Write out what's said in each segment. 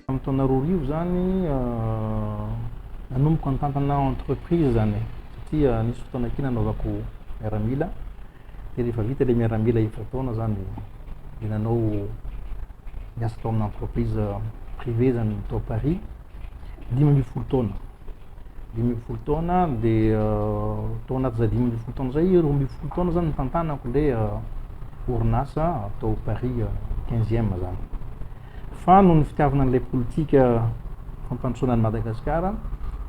Tamin'ny taona roa arivo izany nanomboka nitantana entreprise izany e, satria nisy fotoana kely nanaovako miaramila, dia rehefa vita ilay miaramila efatra taona izany dia nanao niasa tao amina entreprise privée izany tao Paris. dimy ambin'ny folo taona dimy ambin'ny folo taona dia tao anatin'izay dimy ambin'ny folo taona izay roa ambin'ny folo taona zany nitantanako ilay orinasa atao Paris quinzième zany fa noho ny fitiavana an'ilay politika fampandrosoana an'i Madagasikara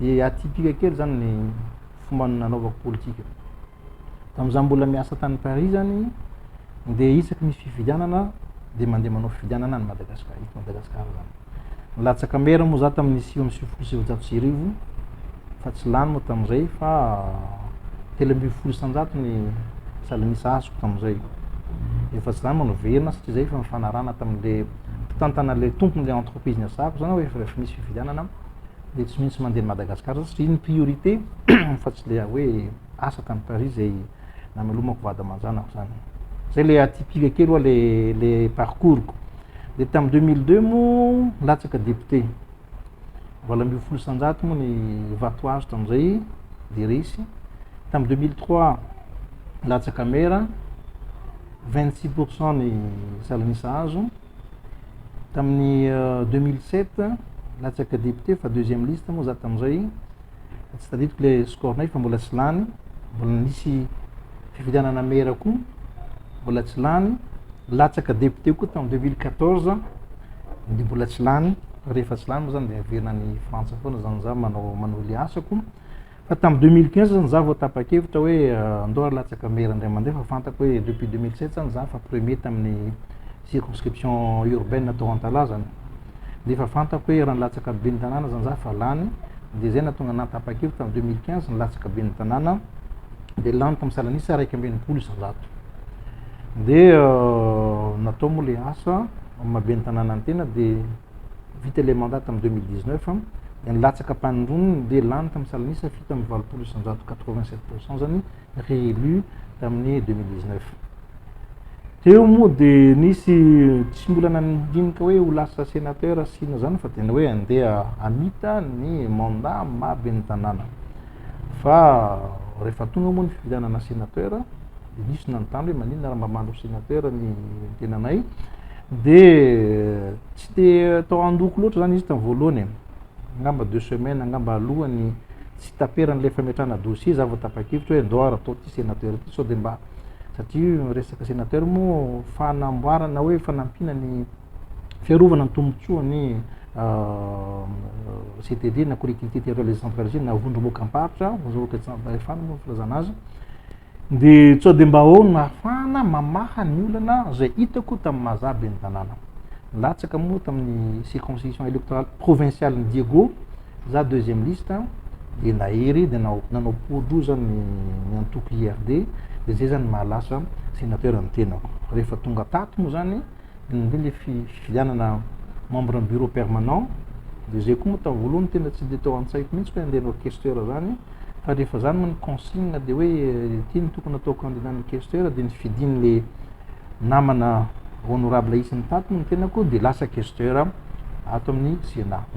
dia atypique kely zany ny fomba nanaovako politika Tamin'izaho mbola miasa tany Paris izany, dia isaky misy fifidianana dia mandeha manao fifidianana any Madagasikara, eto Madagasikara izany. Nilatsaka maire moa izaho tamin'ny sivy amby sivifolo sy sivinjato sy arivo, fa tsy lany moa tamin'izay fa telo ambin'ny folo isanjato ny salanisa azoko tamin'izay. Efa tsy izany moa noverina satria izay efa nifanarahana tamin'ilay mpitantana ilay tompon'ilay entreprise niasako izany hoe efa rehefa misy fifidianana dia tsy maintsy mandeha any Madagasikara satria ny priorité fa tsy ilay hoe asa tany Paris izay namelomako vady aman-janako zany. Zay le atypique kely oa le le parcours-ko. De tam 2002 moa latsaka député. Valo ambin'ny folo isan-jato moa ny vato azo tam'zay de resy. Tam 2003 latsaka maire, 26% ny salan'isa azo. Tamin'ny deux mille sept latsaka député fa deuxième liste moa za tamin'izay, tsy tadidiko le score-nay fa mbola tsy lany, mbola nisy fifidianana maire koa mbola tsy lany, latsaka député koa tamin'ny deux mille quatorze de mbola tsy lany, rehefa tsy lany moa zany de averina any frantsa foana zany za manao manohy le asako, Fa tamin'ny 2015 zany za vao tapa-kevitra hoe euh, andao ary latsaka maire indray mandeha fa fantako hoe depuis 2007 zany za fa premier tamin'ny circonscription urbaine atao Antalazana. Nefa fantako hoe raha nilatsaka ben'ny tanàna zany za fa lany dia zay natonga na tapa-kevitra tamin'ny 2015 nilatsaka ben'ny tanàna dia lany tamin'ny salanisa iraika amby enimpolo isan-jato. Dia euh, natao moa le asa maha ben'ny tanàna ny tena dia vita ilay mandat tamin'ny 2019 an, dia nilatsaka am-panondroniny dia lany tamin'ny salan'isa fito amby valopolo isanjato, 87 pour cent izany, réélu tamin'ny 2019. Teo moa dia nisy tsy mbola nandinika hoe ho lasa sénateur sy inona izany fa tena hoe andeha hamita ny mandat maha ben'ny tanàna. Fa rehefa tonga moa ny fifidianana sénateur dia nisy nanontany hoe maninona raha mba mandro sénateur ny tenanay dia Tsy dia tao an-dohako loatra izany izy tamin'ny voalohany e. Angamba deux semaines angamba alohan'ny tsy taperan'ilay fametrahana dossier izaho vao tapa-kevitra hoe ndao ary atao ity sénateur ity sao dia mba satria ny resaka sénateur moa fanamboarana na hoe fanampiana ny fiarovana ny tombontsoan'ny CTD na collectivité territoriale décentralisée na vondrom-boakamparitra, vondrom-boakamparitra fahefana moa ny filazana azy. De sao de mba aona ahafahana mamaha ny olana zay hitako tamin'ny mahazaha ben'ny tanàna. Nilatsaka moa tamin'ny circonscription électorale provinciale ny Diego, za deuxième liste de nahery de nanao nanao poudre zany ny antoko IRD de zay zany mahalasa sénateur ny tenako. Rehefa tonga tato moa zany Inona indray ilay fifidianana membre ny bureau permanent dia izay koa moa tamin'ny voalohany tena tsy dia tao an-tsaiko mihitsy hoe handeha hanao questeur izany fa rehefa izany moa ny consigne dia hoe ity no tokony atao candidat ny questeur dia ny fidin'ilay namana honorable isan'ny tato moa ny tenako dia lasa questeur ato amin'ny Sénat.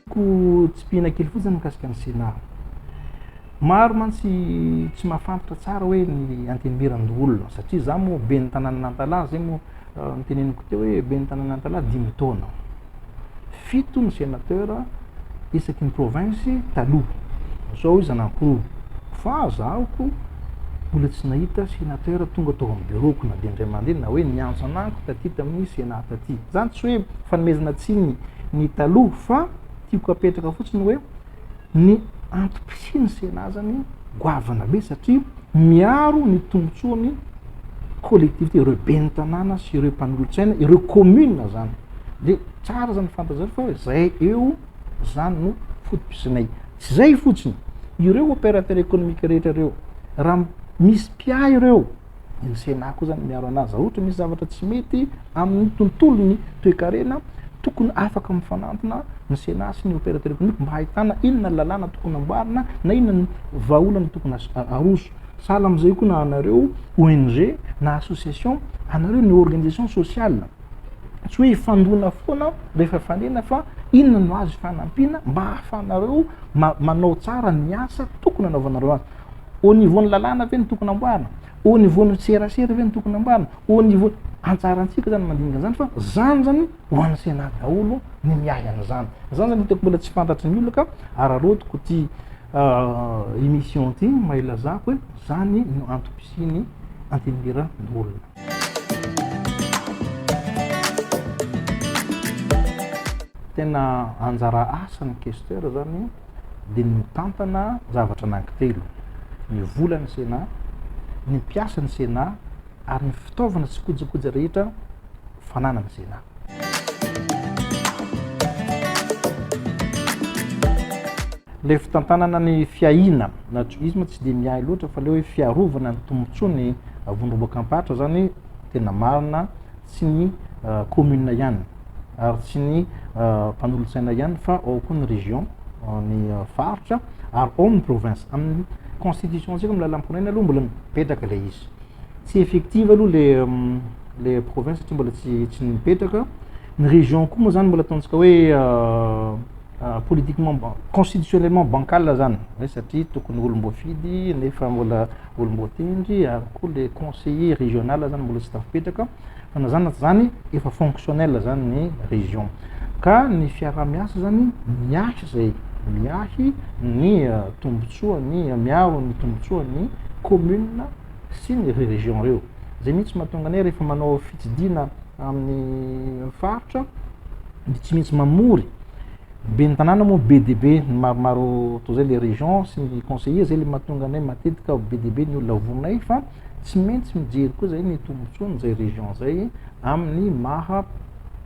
ko tsipihina kely fotsiny mikasika ny Sénat. Maro mantsy tsy mahafantra tsara hoe ny antenimieran-doholona satria za moa be ny tananan'Antalaha zay moa euh, niteneniko teo hoe be ny tanan'Antalaha dimy taona fito ny sénateur isaky ny province taloha zao izy anankiroa fa zahoko mbola tsy nahita sénateur tonga tao amin'ny bureau-ko na dia indray mandeha na hoe niantso anako taty tamin'ny sénat taty zany tsy hoe fanomezana tsiny ny taloha fa tiako apetraka fotsiny hoe ny antom-pisian'ny Sénat azany goavana be satria miaro ny tombontsoan'ny collectivité, ireo ben'ny tanàna sy ireo mpanolotsaina, ireo commune zany. Dia tsara zany fantanjareo fa zay eo zany no foto-pisinay. Tsy zay fotsiny, ireo opérateur économique rehetra ireo, raha misy mpiahy ireo, Ny Sénat koa zany miaro anazy. Raha ohatra misy zavatra tsy mety amin'ny tontolon'ny toekarena, tokony afaka mifanampina ny Sénat sy ny opérateur économique mba hahitana inona ny lalàna tokony amboarina na inona ny vahaolana tokony aroso. Sahala amin'izay koa na anareo ONG na association, anareo ny organisation sociale. Tsy hoe hifandona foana rehefa fanena fa inona no azo ifanampiana mba hahafahanareo manao tsara ny asa tokony anaovanareo azy. Au niveau ny lalàna ve no tokony amboarina? Au niveau ny serasera ve no tokony amboarina? Au niveau antsarantsika zany mandinika zany fa zany zany ho an'ny Sénat daholo ny miahy an'izany. Zany zany hitako mbola tsy fantatry ny olona ka araraotiko ty émission ty mba hilazako hoe zany no antom-pisian'ny antenimierandoholona. Tena anjara asan'ny questeur zany dia ny mitantana zavatra anankitelo, ny volan'ny Sénat, ny mpiasan'ny Sénat ary ny fitaovana sy kojakoja rehetra fananan'ny Sénat. Ilay fitantanana ny fiahiana na juisme tsy dia miahy loatra fa ilay hoe fiarovana ny tombontsoan'ny. Vondromboka Ampatra zany tena marina tsy ny commune ihany ary tsy ny mpanolotsaina ihany fa ao koa ny région ny faritra ary ao ny province amin'ny constitution antsika amin'ny lalam-pirenena aloha mbola mipetraka ilay izy tsy effective aloha le le province satria mbola tsy tsy mipetraka ny région koa moa zany mbola ataontsika hoe ah, politiquement ban- constitutionnellement bancal zany hoe satria tokony olom-boafidy nefa mbola olom-boatendry ary koa le conseiller régional zany mbola tsy tafipetraka fa na zany na tsy zany efa fonctionnel zany ny région ka ny fiaraha-miasa zany miahy zay miahy ny ah, tombontsoa ny miaro ny tombontsoa ny commune sy ny région reo Zay mihitsy mahatonga anay rehefa manao fitsidihana amin'ny faritra de tsy maintsy mamory ben'ny tanàna moa be dia be ny maromaro toa zay le région sy ny conseiller zay le mahatonga anay matetika be dia be ny olona vonay fa tsy maintsy mijery koa zay ny tombontsoan'izay région zay amin'ny maha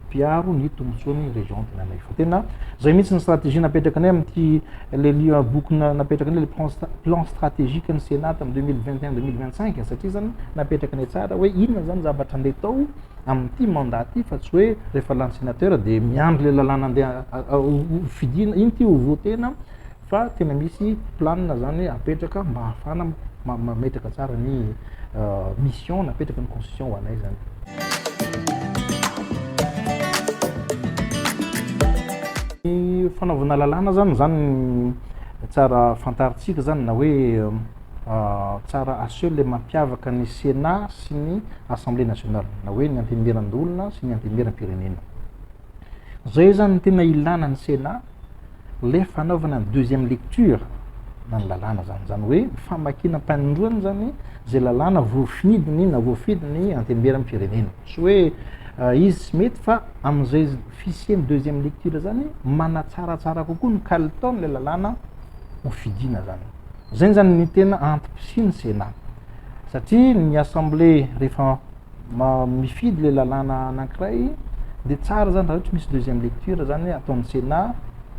mpiaro ny tombontsoan'ny région tena ilay fa tena zay mihitsy ny stratégie napetrakanay amin'ity le lia boky na- napetrakanay le plan stra- plan stratégique ny Sénat tamin'ny 2021 2025 satria zany napetrakanay tsara hoe inona zany zavatra andeha atao amin'ity mandat ity fa tsy hoe rehefa lany sénateur dia miandry le lalàna andeha a- a- ho- ho fidina iny ity ho voter-na fa tena misy plan zany apetraka mba hahafahana mametraka tsara ny mission napetraka ny constitution ho anay zany. Ny fanaovana lalàna zany zany tsara fantaritsika zany na hoe tsara aseho le mampiavaka ny Sénat sy ny Assemblée nationale na hoe ny antenimieran-doholona sy ny antenimieram-pirenena. Zay zany ny tena ilana ny Sénat rehefa anaovana ny deuxième lecture na ny lalàna zany. Zany hoe ny famakiana am-panondroana zany zay lalàna voafinidiny na voafidiny antemberan'ny firenena. Tsy hoe eh, izy tsy mety fa amin'izay fisian'ny deuxième lecture zany manatsaratsara kokoa ny kalitaon'ilay lalàna ho fidiana zany. Zay zany ny tena antom-pisian'ny Sénat. Satria ny assemblée rehefa mifidy ilay lalàna anankiray dia tsara zany raha ohatry misy deuxième lecture zany hoe ataon'ny Sénat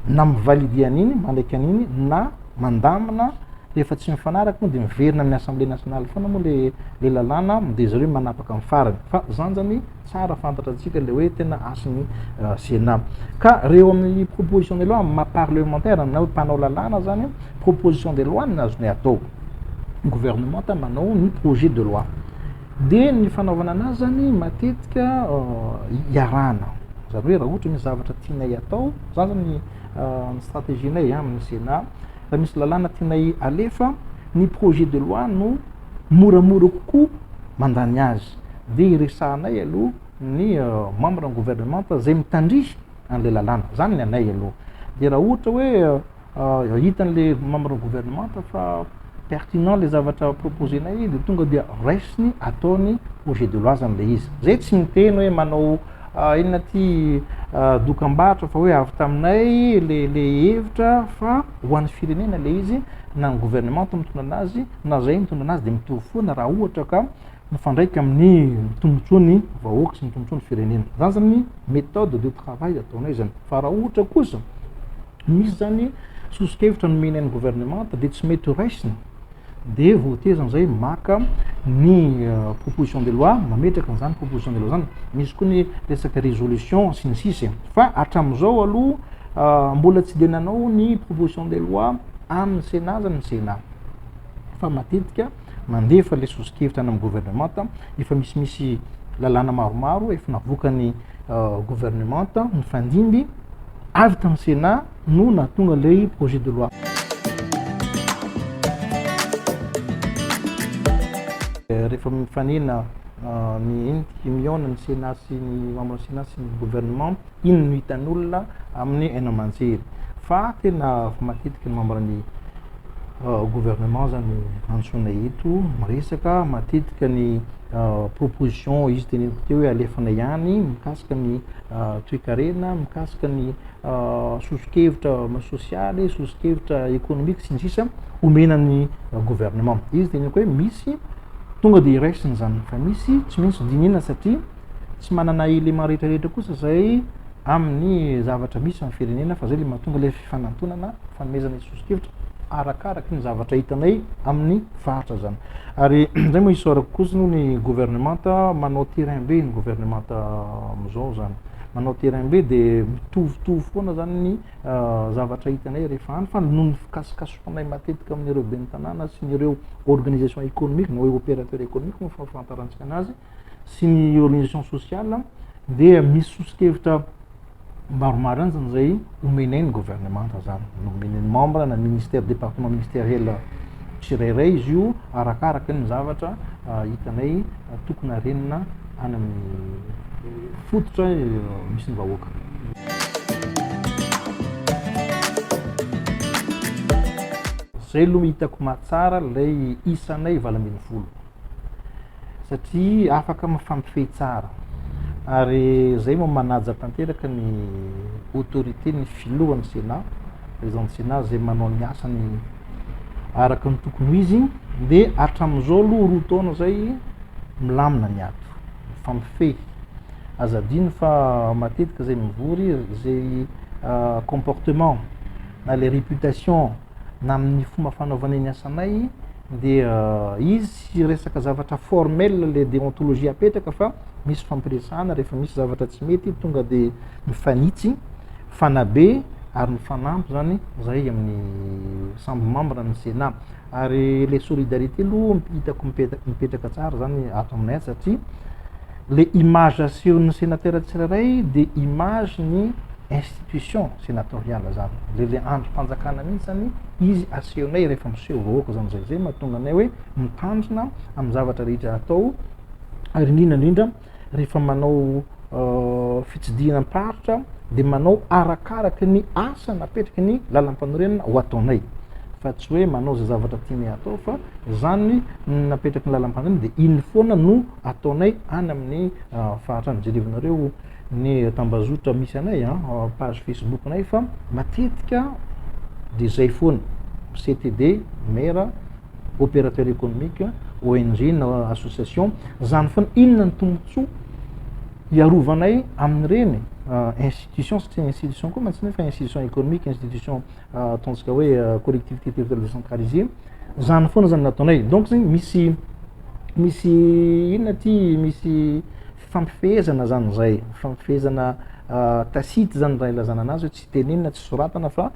na mi-valider an'iny mandraika an'iny na mandamina rehefa tsy mifanaraka moa dia miverina amin'ny assemblée nationale foana moa le le lalàna dia zareo manapaka amin'ny farany fa zany zany tsara fantatra antsika le hoe tena hasin'ny euh, Sénat ka reo amin'ny proposition de loi amin'ny maha parlementaire na hoe mpanao lalàna zany proposition de loi ny azonay atao gouvernement manao ny projet de loi Dia ny fanaovana anazy zany matetika iarahana. Zany hoe raha ohatra misy zavatra tianay atao, zany zany ny ny stratégie-nay amin'ny Sénat, raha misy lalàna tianay alefa, ny projet de loi no moramora kokoa mandany azy. Dia iresahanay aloha ny membre ny gouvernemanta zay mitandrihy an'ilay lalàna. Zany ny anay aloha. Dia raha ohatra hoe Ah, hitan'le membre gouvernemanta fa pertinent le zavatra proposer-nay de tonga dia raisiny ataony projet de loi zany le izy. Zay tsy miteny hoe manao ah, inona ty ah, dokambarotra fa hoe avy taminay le le hevitra fa ho an'ny firenena le izy na ny gouvernemanta mitondra anazy na zay mitondra anazy de mitovy foana raha ohatra ka mifandraika amin'ny tombontsoa ny vahoaka sy ny tombontsoa ny firenena zany zany méthode de travail ataonay zany fa raha ohatra kosa misy zany soso-kevitra nomena ny gouvernemanta dia tsy mety ho raisina dia voatezany zay maka ny euh, proposition de loi mametraka an'izany proposition de loi zany misy koa ny resaka résolution sy ny sisa fa hatramin'izao aloha euh, mbola tsy dia nanao ny proposition de loi amin'ny sénat zany ny sénat fa matetika mandefa ilay sosokevitra any amin'ny governemanta, efa misimisy lalàna maromaro efa navoakan'ny euh, governemanta nifandimby avy tamin'ny sena no nahatonga ilay projet de loi euh, rehefa mifanena euh, ny mihaona ny sena sy ny membre sena sy ny governemanta iny no hitan'olona amin'ny haino aman-jery fa tena matetika ny membre ny euh, gouvernement zany antsoina eto miresaka matetika ny euh, proposition izy teneniko teo hoe alefana ihany mikasika ny euh, toekarena mikasika ny sosokevitra sosialy sosokevitra économique sy ny sisa omena ny gouvernement izy teneniko hoe misy tonga dia iraisina izany fa misy tsy maintsy dinihina satria tsy manana élément rehetra rehetra kosa zay amin'ny zavatra misy amin'ny firenena fa zay le mahatonga ilay fifanantonana fanomezana ny sosokevitra arakaraky ny zavatra hitanay amin'ny faritra zany ary zay moa isaorako kosa noho ny gouvernementa manao terrain be ny gouvernementa amizao zany manao terrain be de mitovitovy foana zany ny ah, zavatra hitanay rehefa any fa noho ny fikasokasohanay matetika amin'ireo ben'ny tanàna sy ny ireo organisation économique na hoe opérateur économique moa fahafantarantsika anazy sy ny organisation sociale dia misy soso-kevitra maromaranjany zay omenay ny governemanta zany nomen'ny membre na ministère département ministériel tsirairay izy io arakaraka ny zavatra ah, hitanay ah, tokony arenina any amin'ny fototra eh, misy ny vahoaka zay aloha hitako mahatsara lay isanay valo ambin'ny folo satria afaka mifampifehy tsara ary zay mo manaja tanteraka ny autorité ny filohan'ny Sénat président du Sénat zay manao ny asany araka ny tokony ho izy dia hatramin'izao aloha roa taona zay milamina ny ato mifampifehy aza adino fa matetika zay mivory zay euh, comportement na le réputation na amin'ny fomba fanaovanay ny asanay dia izy tsy resaka zavatra formel le déontologie apetraka fa misy fampiresahana rehefa misy zavatra tsy mety tonga dia mifanitsy fanabe ary mifanampy zany zahay amin'ny sambo membre ny sénat ary le solidarité aloha hitako mipetraka tsara zany ato aminay ato satria le image asehon'ny senatera tsirairay dia image ny institution senatoriale zany le le andrim-panjakana mihitsy zany izy asehonay rehefa miseho vahoaka zany zay zay mahatonga anay hoe mitandrina amin'ny zavatra rehetra atao ary indrindra indrindra rehefa manao euh, fitsidihana am-paritra dia manao arakaraka ny asa napetraky ny lalam-panorenana ho ataonay fa tsy hoe manao zay zavatra tianay atao fa zany napetraky ny lalam-panorenana dia iny foana no ataonay any amin'ny faritra any, jerevinareo ny tambazotra misy anay a, page Facebook-nay fa matetika dia zay foana, CTD, maire, opérateur économique, ONG na association, zany foana, inona ny tombontsoa hiarovanay amin'ireny institution satria institution koa mantsy nefa institution économique, institution ataontsika hoe euh, collectivité territoriale décentralisée zany foana zany nataonay donc zegny misy misy inona ty misy fifampifehezana zany zay fifampifehezana euh, tacite zany raha ilazana anazy hoe tsy tenenina tsy soratana fa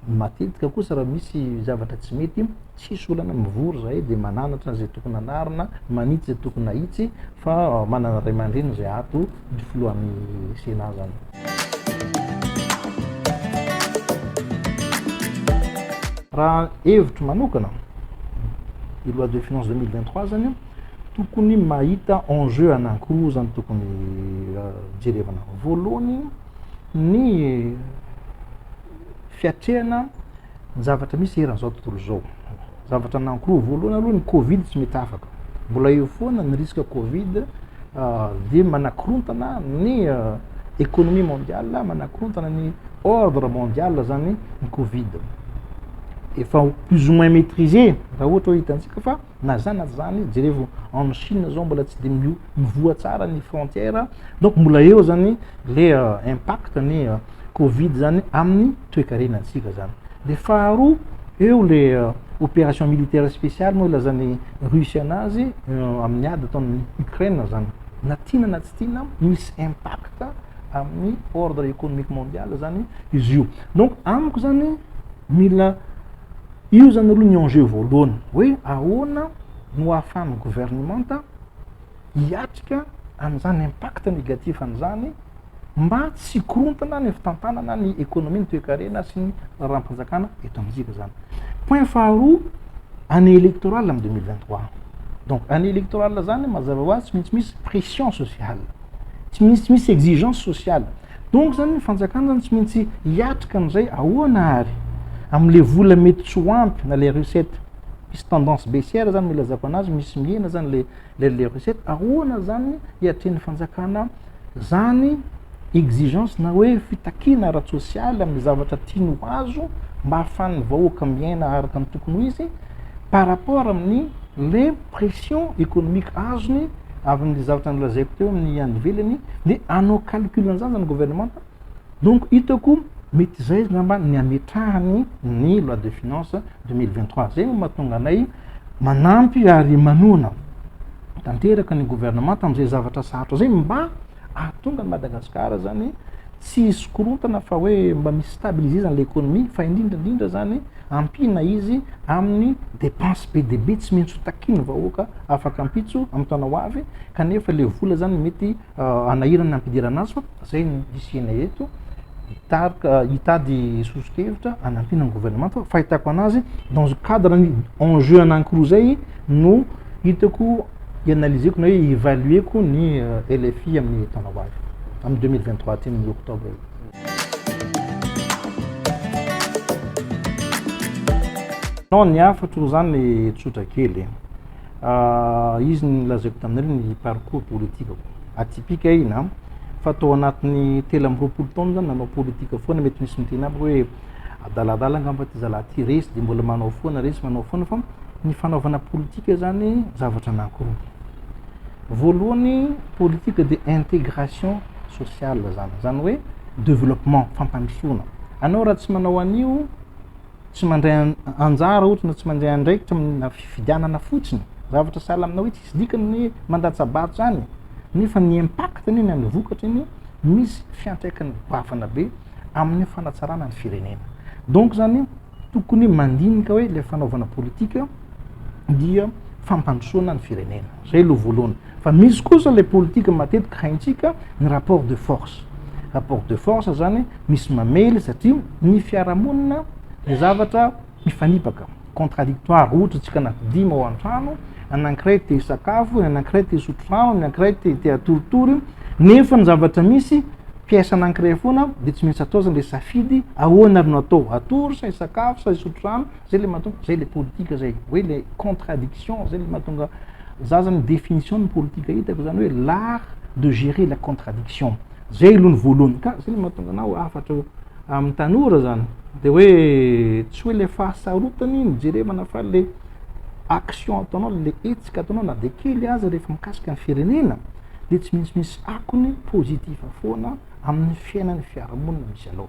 matetika kosa raha misy zavatra tsy mety tsisy olana mivory zahay de mananatra zay tokony anarina manitsy zay tokony ahitsy fa euh, manana ray aman-dreny zay ato ny filohan'ny sena zany Raha hevitro manokana, io loi de finance 2023 zany tokony mahita enjeu anankiroa zany tokony euh, jerevana. Voalohany ny fiatrehana ny zavatra misy eran'izao tontolo izao. zavatra nankoa voalohany aloha ny covid tsy mety afaka mbola eo foana ny risque covid ah, dia manakorontana ny ah, économie mondiale manakorontana ny ordre mondial zany ny covid efa plus ou moins maîtrisé raha ohatra hoe hitantsika fa na zany na zany jerevo en Chine zao mbola tsy dia mio mivoha tsara ny frontière donc mbola eo zany le euh, impact ny euh, covid zany amin'ny toekarena antsika zany de faharoa eo le euh, opération militaire spéciale moa ilazan'ny russe anazy amin'ny ady ataon'ny ukraine zany na tiana na tsy tiana misy impact amin'ny ordre économique mondial zany izy io donc amiko zany mila io zany aloha ny enjeu voalohany hoe ahoana no ahafahan'ny gouvernementa hiatrika an'izany impact négatif an'izany mba tsy hikorontana ny fitantanana ny ekonomia ny toekarena sy ny raharam-panjakana eto amintsika zany point faharoa année électorale amin'ny deux mille vingt trois donc année électorale zany mazava ho azy tsy maintsy misy pression sociale tsy maintsy tsy misy exigence sociale donc zany ny fanjakana zany tsy maintsy hiatrika an'izay ahoana ary amin'le vola mety tsy ho ampy na le recette misy tendance baissière zany milazako anazy misy mihena zany le le le recette ahoana zany hiatrehan'ny fanjakana zany exigence na hoe fitakiana ara-tsosialy amin'ny zavatra tiany ho azo mba hahafan'ny vahoaka miaina araka ny tokony ho izy par rapport amin'ny le pression économique azony avy amin'ny zavatra nilazaiko teo amin'ny any ivelany dia anao calcul an'izany zany gouvernementa Donc hitako mety izay angamba ny hametrahany ny loi de finance 2023. Izay no mahatonga anay manampy ary manohana tanteraka ny gouvernement tamin'izay zavatra sarotra izay mba ahatonga ny Madagasikara zany tsy hisy korontana fa hoe mba misy stabiliser zany l'économie fa indrindra indrindra zany ampiana izy amin'ny dépense be dia be tsy maintsy ho takian'ny vahoaka afaka ampitso amin'ny taona ho avy kanefa ilay vola zany mety hanahirana ny hampidirana azy fa zay no hisianay eto hitarika hitady sosokevitra hanampiana ny gouvernemanta fa fahitako anazy dans cadre ny enjeu anankiroa zay no hitako ianalizeko na hoe ivalueko ny euh, LFI amin'ny taona ho avy amin'ny 2023 aty amin'ny octobre io non ny hafatro zany le tsotra kely izy ny lazaiko taminareo ny parcours politikako atypique iny an, fa tao anatin'ny telo amby roapolo taona zany nanao politika foana, mety misy miteny amiko hoe adaladala angamba ity zalahy ity, resy dia mbola manao foana, resy manao foana, fa ny fanaovana politika zany zavatra anankiroa, voalohany politika dia intégration sociale zany, zany hoe développement, fampandrosoana, anao raha tsy manao an'io tsy mandray anjara ohatra na tsy mandray andraikitra amina fifidianana fotsiny zavatra sahala amina hoe tsisy dikany ny mandatsa-bato zany nefa ny impact ny ny vokatra ny misy fiantraikany bavana be amin'ny fanatsarana ny firenena donc zany tokony mandinika hoe le fanaovana politika dia fampandrosoana ny firenena Zay aloha voalohany. Fa misy kosa ilay politika matetika haintsika ny rapport de force. Rapport de force zany misy mamely satria ny fiarahamonina dia zavatra mifanipaka, contradictoire. Ohatra tsika anaty dimy ao an-trano, ny anankiray te hisakafo, ny anankiray te hisotro rano, ny anankiray te te hatoritory, nefa ny zavatra misy pièce anankiray foana dia tsy maintsy atao zany ilay safidy, ahoana ary no atao, hatory sa hisakafo sa hisotro rano? Zay le mahatonga, zay le politika zay, hoe le contradiction zay le mahatonga za zany définition ny politika hitako zany hoe l'art de gérer la contradiction, zay aloha ny voalohany, ka zay le mahatonga anah hafatra eo amin'ny tanora zany de hoe tsy hoe le fahasarotany ny jerevana fa le action ataonao, le hetsika ataonao na dia kely aza rehefa mikasika ny firenena dia tsy maintsy misy akony positif foana amin'ny fiainan'ny fiarahamonina misy anao.